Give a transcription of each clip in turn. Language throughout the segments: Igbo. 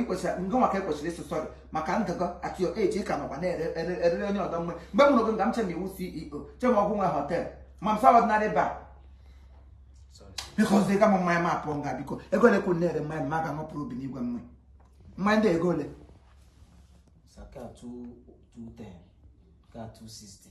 ị kwesịrị ngụ maka ekwesịrị ịsị sọrị maka ndụ gị at your age ị ka nọkwa na-erere onye ọdọ mgbe mgbe m nụrụ nga m chee m ị wụ CEO chee m ọ gị nwe hotel ma m sị ordinary bar biko zịga m mmanya m apụọ nga biko ego ole ka unu na-ere mmanya m ga-aṅụpụrụ obi n'igwe mmanya mmanya ndị ego ole Sir, ke a 210, ke a 260.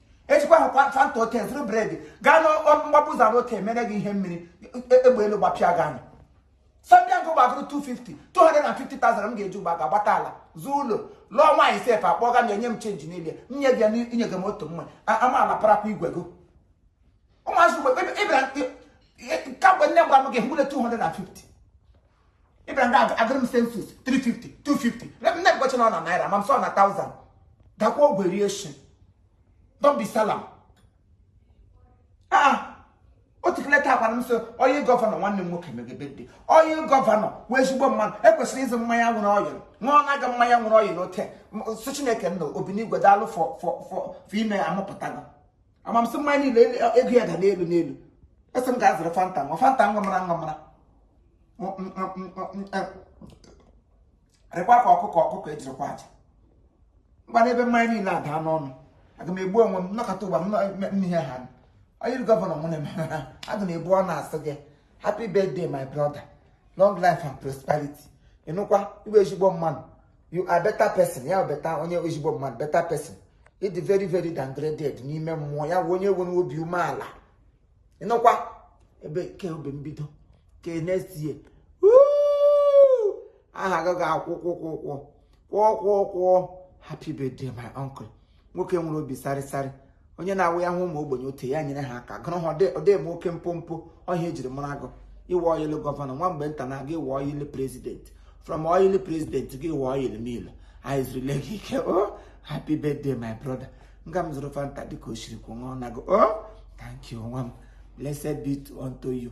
ejikwa ahụ fanta ote zụrụ bred gaa na mgbapụ zara ote mere gị ihe mmiri e, egbe elu gbapịa gị anya sọbịa nke gbagoro 250 250,000 m ga-eji ugbu a ga gbata ala zụọ ụlọ lụọ nwaanyị sef akpọga m ya nye m chenji niile nye bịa inye gị m otu mma amaala parakwa igwe gị ụmụazị ugbo ebere kamgbe nne gwara m gị hụle 250 ị bịara nga agụrụ m census 350 250 let me negbochi na ọ na naira ma m sị ọ na 1000 dakwa ogwe rie shị don't be salam ah otu kileta agwara m sị oyiri gọvanọ nwanne m nwoke mege birthday oyiri gọvanọ wụ ezigbo mmadụ ekwesịrị ịzụ mmanya nwere oil ṅụọ ọ na-aga mmanya nwere oil n'ote m- sị chineke nna obinigwe daalụ for for for for ime amụpụta gị ama m sị mmanya niile ego ya dị n'elu n'elu asị m ga-azụrụ fanta ṅụọ fanta nwa mara nwa mara rekwa ka ọkụkọ ọkụkọ ejirikwa aja mgba n'ebe mmanya niile adaala ọnụ aga m egbu onwe m nnọkọta ụwa m n'ihi oyiri gọvanọ nwanne m aga m egbu ọ na-asị gị happy birthday my brother long life and prosperity ị nụkwa ị wụ ezigbo mmadụ you are better person ya better onye ezigbo mmadụ better person ị dị very very downgraded n'ime mmụọ ya bụ onye nwere obi umeala ị nụkwa ebe ke obi mbido ke next year aha agaghị akwụkwọ ụkwụ ụkwụ kwụọ kwụọ kwụọ happy birthday my uncle nwoke nwere obi sarịsarị onye na-awụ ya hụ ụmụ ogbenye ote ya nyere ha aka gụrụ ha ọdee m oke mpompo ọhịa ejiri mara agụ ị wụ oyiri gọvanọ nwa mgbe nta na-aga ịwụ oyiri president from oyiri president gị awụ oyiri mil aizrile gị ike o oh, happy birthday my brother nga m zụrụ fanta dịka o siri kwụ ṅụọ na gị o oh, thank you nwa m blessed be unto you